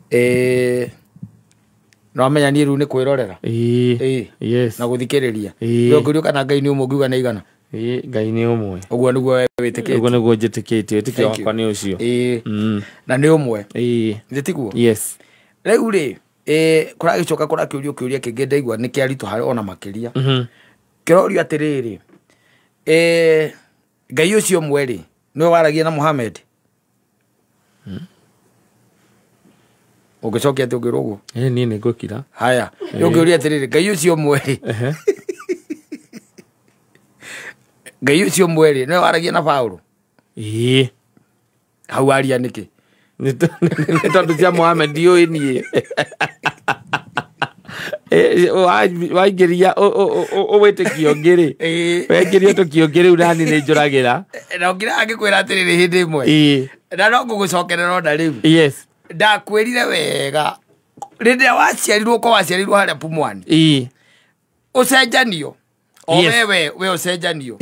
Eh, nĩwamenya niĩ rĩu nĩ kwĩrorera Ĩĩ. Ĩĩ. Yes. na gũthikĩrĩria Ĩĩ. Rĩu ngĩũria kana ngai nĩ ũmwe ngiuga nĩ igana Ĩĩ, ngai nĩ ũmwe ũguo nĩguo we ũguo wĩtĩkĩtie nĩguo njĩtĩkĩtie wĩtĩkio Thank you. wakwa nĩ ũcio Ĩĩ. Mm. na nĩ ũmwe Ĩĩ. Githĩ tiguo yes rĩu rĩ eh, kũragĩcoka kũrakĩũrio kĩũria kĩngĩ ndaigua nĩ kĩaritũ harĩ ona makĩria Mhm. kĩrorio atĩrĩrĩ eh, ngai ũcio ũmwe rĩ nĩwe waragia na muhamed ũngĩcokia atĩ ũngĩrwo ũguo Eh, niĩ nĩ ngũkira haya ũngĩũria atĩrĩrĩ ngai ũcio ũmwe rĩ Ehe. ngai ũcio ũmwe rĩ nĩwe waragia na paũlũ Ĩĩ. hau aria nĩkĩ Nĩ tondũ- nĩ tondũ cia mohamed ndiũĩ niĩ waingĩria ũwĩtĩkio ngĩ rĩ wengiria ũtũkio ngĩ rĩu nani nĩ njũragĩra na ngĩra angĩkwĩra atĩrĩrĩ hĩndĩ ĩmwe na no ngũgũcokerera ona rĩu ndakwĩrire wega rĩndĩ ĩrĩa waciarirwo ko waciarirwo harĩa pumwani ũcenjanio o wewe we ũcenjanio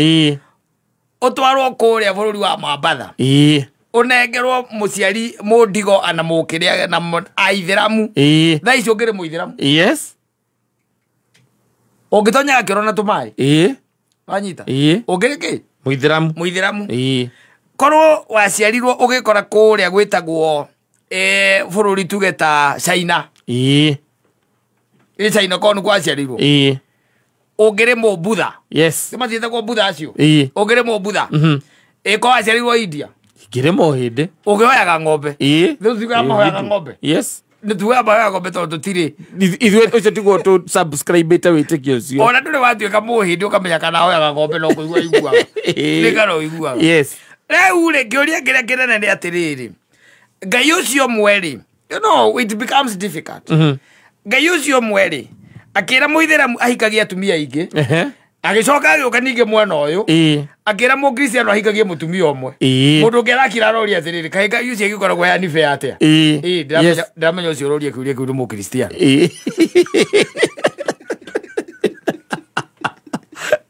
ũtwarwo kũrĩa bũrũri wa mambatha ĩĩ ũnengerwo mũciari mũndigo ana mũkĩrĩa na mũ- aithĩramu ĩĩ thaa icio ngĩrĩ mũithĩramu yes ũngĩtonyaga kĩoro na tũmaĩ ĩĩ wanyita ĩĩ ũngĩrĩ kĩ mũithĩramu mũithĩramu ĩĩ korwo waciarirwo ũgĩkora kũrĩa gwĩtagwo eh, bũrũri tuge ta china ii ĩ china korwo nĩ kwaciarirwo ii ũngĩrĩ mũmbutha yes nĩ mathiĩte kwa mbutha acio ii ũngĩrĩ mũmbutha Mhm. ĩ korwo aciarirwo india ngĩrĩmwo hĩndĩ ũkĩhoyaga ng'ombe ii Rĩu tuge amahoyaga ng'ombe yes nĩ tuge amahoyaga ng'ombe tondũ tũtirĩ Ithu- ithuĩ ũcio tiguo tũ subscribĩte wĩtĩkio ũcio ona ndũrĩ watuĩka mũhĩndĩ ũkamenya kana ahoyaga ng'ombe no kũigua iguaga Ĩĩ. nĩkana ũiguaga yes rĩu rĩ kĩũria kĩrĩa kĩnene nĩ atĩrĩrĩ ngai ũcio mwerĩ you know it becomes difficult ngai ũcio mwerĩ akĩra mũithĩramu ahikagie atumia aingĩ Ehe. agĩcoka agĩũka ningĩ mwena ũyũ Ĩĩ. akĩra mũkristiano ahikagie mũtumia ũmwe Ĩĩ. mũndũ ũngĩ arakira aroria atĩrĩrĩ kaĩ ngai ũcio agĩkoragwo yani be atĩa Ĩĩ. Ĩĩ, Yes. ndiramenya- ndiramenya ũcio ũroria kĩũria kĩu nĩ mũkristiano Ĩĩ.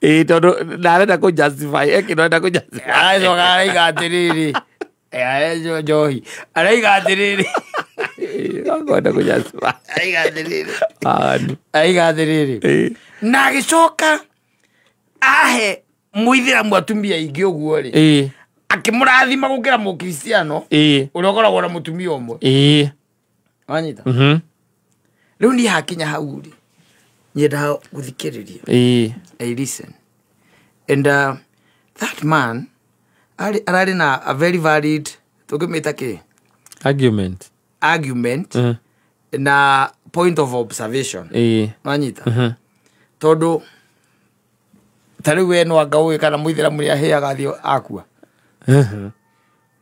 Ĩĩ, tondũ ndarenda kũ justify ekĩrenda kũ justify aracoka araiga atĩrĩrĩ Aejo njohi. Araiga atĩrĩrĩ. Ngwenda kũnyacima. Araiga atĩrĩrĩ. Aani. Araiga atĩrĩrĩ. Eh. Na agĩcoka ahe mũithĩramu atumia aingĩ ũguo rĩ. Eh. Akĩmũrathima gũkĩra mũkristiano. Eh. Ũrĩa ũkoragwo na mũtumia ũmwe. Eh. wanyita Mhm. rä u niä hakinya hau rä nyendaga gå thikä rä ria Ĩĩ. I listen. And uh, that man arĩ- ararĩ na a very valid tũngĩmĩta kĩ argument argument Mhm. na point of observation Ĩĩ. wanyita Mhm. tondũ ta rĩu we no anga ũĩ kana mũithĩramu nĩ ahĩaga thiĩ akua Mhm.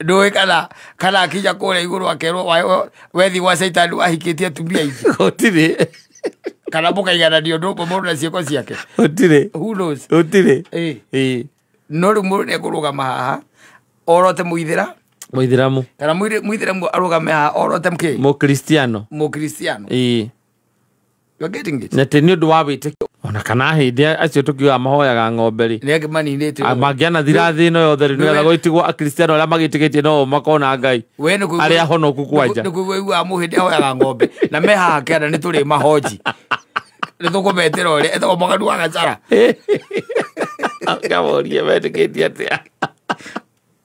ndåä kana kana akinya kå rä a igå rå akerwo wa- wa- wethi gwa caitani wahikĩ tie atumia ingä gũtirĩ kana må kaigananio ndå må må na ciäko ciake gũtirĩ Who knows? gũtirĩ Ĩ, Ĩ, no rä u må ndå nä ekå rå gama haha orote må ithä ra mũithĩramu kana må ithä ra arå game haha orote kä mũkristiano må kristiano Ĩ, You're getting it? na tä nä å ndå wa wä tä ona kana hä ndä acio tå kiugaga mahoyaga ng'ombe rä Nĩ angĩ maninĩte ũguo. mangĩana thira thä no yothe rä nä getha Nĩwe- gå itigwo akristiano arä a magä tä gä tie no makona ngai We nĩ kũigua- arĩa ahonoku kwanja. nĩ kũigua iguaga mũhĩ ndĩ ahoyaga ng'ombe na me haha kĩanda nĩ tũrĩ mahonji nĩ tũkũmetĩra ũrĩa etagwo mũganu wa gacara ngamorie metä gä tie atä a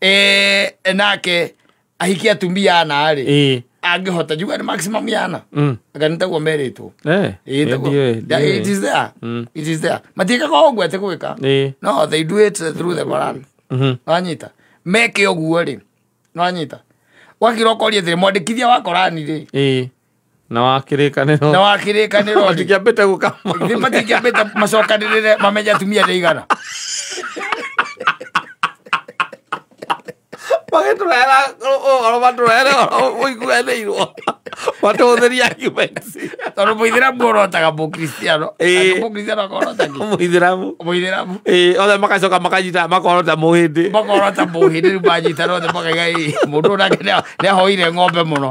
Eh, nake ahikia atumia ana rä ä angĩhota njuga nĩ maximum yana anga nĩ taguo merĩtwo Ĩĩ, taguo. Yeah, it is there. It is there. matiĩkaga o ũguo atĩ gwĩka Ĩĩ. no they do it through the Quran wanyita meke ũguo rĩ wanyita wakira ũkoria thĩ mwandĩkithia wa korani rĩ ä na wa kĩrĩkanĩro na wa kĩrĩkanĩro rĩ, matingĩambĩte gũkama nĩ matingĩambĩte macokanĩrĩre mamenye atumia nĩ igana magĩtũrehera ũhoro matũrehere ũhoro ũiguanĩirwo matũhũthĩria arguments tondũ mũithĩramu orotaga mũkristiano Ĩĩ. mũkristiano akorotagi mũithĩramu mũithĩramu ĩĩ othe magacoka makanyita makorota mũhĩndĩ makorota mũhĩndĩ rĩu manyitana othe makaiga ĩ mũndũ ũyũ nake nĩ- nĩ ahoire ng'ombe mũno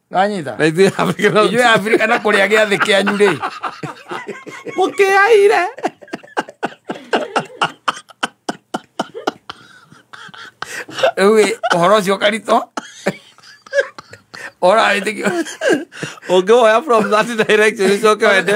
wanyita na ithuĩ Afrika no- inyuĩ afrika na kũrĩa gĩathĩ kĩanyu rĩ mũkĩaire rĩu ĩ, ũhoro ũcio karitũ ũrawĩtĩkio ũngĩwoya from that direction ũcoke wende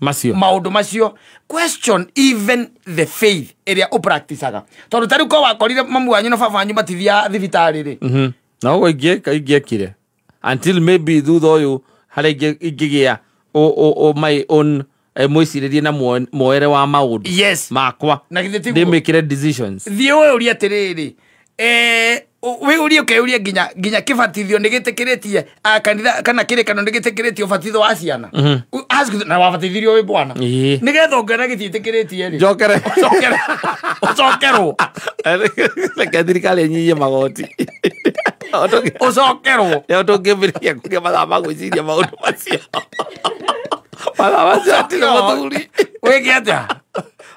macio maundu macio question even the faith ĩrĩa ũpracticaga tondũ tarĩu ko wakorire mamu wanyu na baba wanyu matithia thibitarĩ rĩ Mhm. na ũguo ingĩ- ingĩekire until maybe thutha ũyũ harĩa ingĩ- ingĩgĩa ũ- ũ- ũ- my own eh, mwĩcirĩrie na muo- muoere wa maũndũ yes makwa Na githĩ tiguo? ndĩmĩkĩre decisions thiĩ ũyũrie atĩrĩrĩ Eh, ũ- wĩyũrie ũkeyũrie nginya nginya kĩbatithio nĩ gĩtĩkĩrĩtie ah, kanitha kana kĩrĩkano nĩ gĩtĩkĩrĩtie ũbatitho wa ciana U- ask them, na wabatithirio wĩ bwana Ĩĩ. nĩ getha ũngĩona gĩtiĩtĩkĩrĩtie rĩ njokere ũcokere- ũcokerwo reke thirikari ĩnyihie magoti ũcokerwo rĩo tũngĩmbĩrĩria kũgĩa mathaa ma gwĩciria maũndũ macio mathaa macio atirĩ mũthuri wĩke atĩa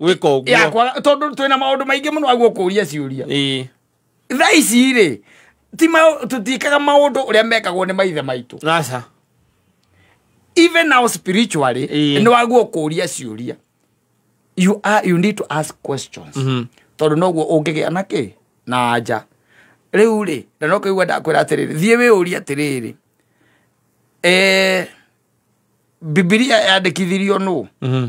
gwika å guo yakwa tondå twä na maå ndå maingä må no aguo kå ria ciå Ĩĩ. tha ici rä ti ma- tũtiĩkaga maũndũ ũrĩa mekagwo nĩ maithe maitũ aca even now spiritually Ĩĩ. nĩ waguo kũria ciũria you, are, you need to ask questions Mhm. tondũ noguo ũngĩgĩa na kĩ na anja rĩu rĩ na no kĩigua ndakwĩra atĩrĩrĩ thiĩ wĩyũrie atĩrĩrĩ eh, bibilia yandĩkithirio nũ Mhm.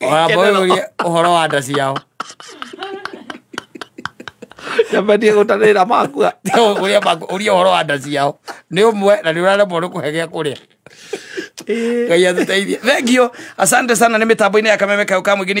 wambũrĩrie ũhoro wa nda ciao nyambendie gũtanĩra makua ũrĩa maku- ũria ũhoro wa nda ciao nĩ ũmwe na nĩ ũraremwo nĩ kũhe gĩa kũrĩa ngai atũteithie thengio asante sana nĩ mĩtambo-inĩ ya kameme kau ka mũingĩ